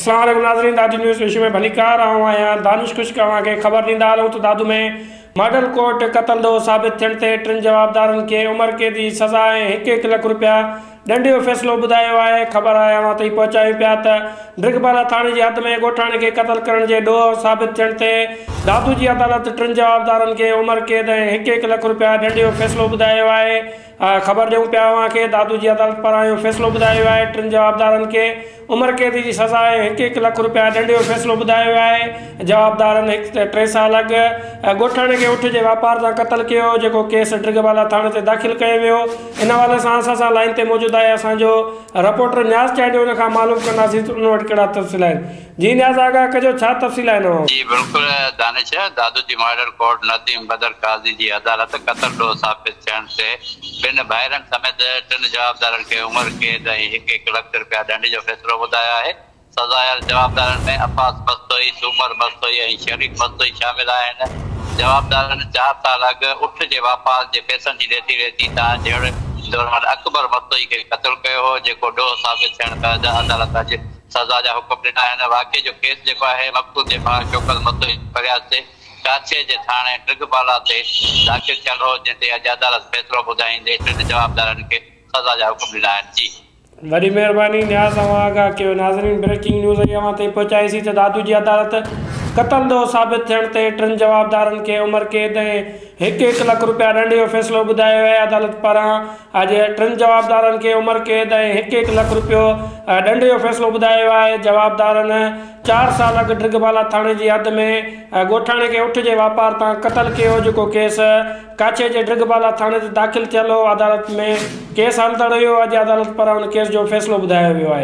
السلام عليڪم ناظرين دادو نيوز پيشي ۾ ڀليڪار آئون آهيان دانش خشڪ اوهان کي خبر ڏيندا هلون ته دادو ۾ ماڊل ڪورٽ قتل ڏوهه ثابت ٿيڻ تي ٽن جوابدارن کي عمر قيد جي سزا ۽ هڪ هڪ لک روپيا ڏنڊ جو فيصلو ٻڌايو آهي خبر آهي اوهان تائين پهچايون پيا ته ڊرگبالا ٿاڻي جي حد ۾ ڳوٺاڻي کي قتل ڪرڻ جي ڏوهه ثابت ٿيڻ تي دادو جي عدالت ٽن جوابدارن کي عمر قيد ۽ هڪ هڪ لک روپيا ڏنڊ جو فيصلو ٻڌايو آهي خبر ڏيون پيا اوهان کي دادو جي عدالت پاران اهو فيصلو ٻڌايو ويو آهي ٽن جوابدارن کي عمر قيد جي سزا ۽ هڪ هڪ لک رپيا ڏنڊ جو فيصلو ٻڌايو ويو آهي جوابدارن هڪ ته ٽي سال اڳ ڳوٺاڻي کي اٺ جي واپار سان قتل ڪيو هو جيڪو ڪيس ڊرگهه بالا ٿاڻي تي داخل ڪيو ويو ان حوالي سان اسان سان لائين تي موجود آهي اسان جو رپورٽر نياز چانڊيو ان کان معلوم ڪنداسين ته ان وٽ ڪهڙا تفصيل آهن جي نياز آغا ڪجو ڇا تفصيل آهن اوهان. جي بلڪل دانش دادو جي مارڊر ڪورٽ نديم بدر قاضي جي عدالت قتل ڏوهه ثابت ٿيڻ تي ٻن ڀائرن سميت ٽن جوابدارن کي عمر قيد ۽ هڪ هڪ لک رپيا ڏنڊ جو فيصلو ٻڌايو آهي سزايل جوابدارن ۾ عباس مستوئي سومر مستوئي ۽ شريف مستوئي شامل آهن جوابدارن چار سال اڳ اٺ جي واپار جي پيسن جي ليتي ليتي تان جهڙ دوران اڪبر مستوئي کي قتل ڪيو هو جيڪو ڏوهه ثابت ٿيڻ بعد عدالت اڄ سزا جا حڪم ڏنا آهن. واقعي جو ڪيس جيڪو آهي مقتول جي ڀاء شوڪت متوي جي فرياد تي ڪاڇي جي ٿاڻي ڊگهه بالا تي داخل ٿيل هو جنهن تي اڄ عدالت فيصلو ٻڌائيندي ٽن جوابدارن کي سزا جا حڪم ڏنا آهن جي. وڏي مهرباني نياز اوهان آگاهه ڪيو ناظرين بريڪنگ نيوز اهي اوهان تائين پهچايي سي ته دادو جي عدالت قتل ڏوهه ثابت ٿيڻ تي ٽن جوابدارن کي عمر قيد ۽ هڪ هڪ لک روپيا ڏنڊ جو فيصلو ٻڌايو آهي عدالت پاران اڄ ٽن جوابدارن کي عمر قيد ۽ هڪ هڪ لک رپيو ڏنڊ جو فيصلو ٻڌايو ويو آهي جوابدارن چار سال اڳ ڊگبالا ٿاڻي جي حد ۾ ڳوٺاڻي کي اٺ جي واپار تان قتل ڪيو جيڪو ڪيس ڪاڇي جي ڊگبالا ٿاڻي تي داخل ٿيل هو عدالت ۾ ڪيس هلندڙ هيو اڄ عدالت پاران ان ڪيس جو فيصلو ٻڌايو ويو آهي.